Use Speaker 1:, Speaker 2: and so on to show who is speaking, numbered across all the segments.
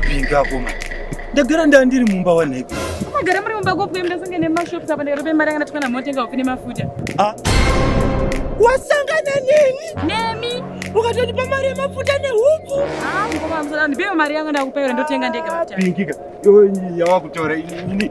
Speaker 1: Pinga akoma. Ndagara ndanga ndiri mumba wanhaiko. Magara muri mumba gopi kuenda sange nemashops apa ndikatope mari yanga ndatikana motenga hopi nemafuta. Ah. Wasangana neni? Nemi. Ukatotipa mari yemafuta nehuku. Ah, ngoma mzora ndipewe mari yanga ndakupewa ndotenga ndega mafuta. Pingika. Yo yawakutora ini.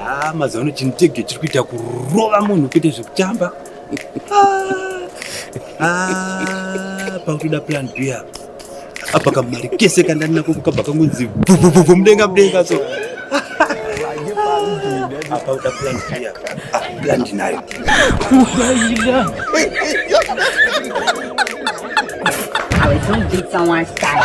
Speaker 1: Ah, mazuva ano chinitege chiri kuita kurova munhu kuita zvekutamba Ah, pakutoda plan b apa apa kamari kese kandani nako kukabva kangonzi bvubvubvu mudenga mudenga so apa uda plan b apa Ah, plan ndinayo I was so big someone's style.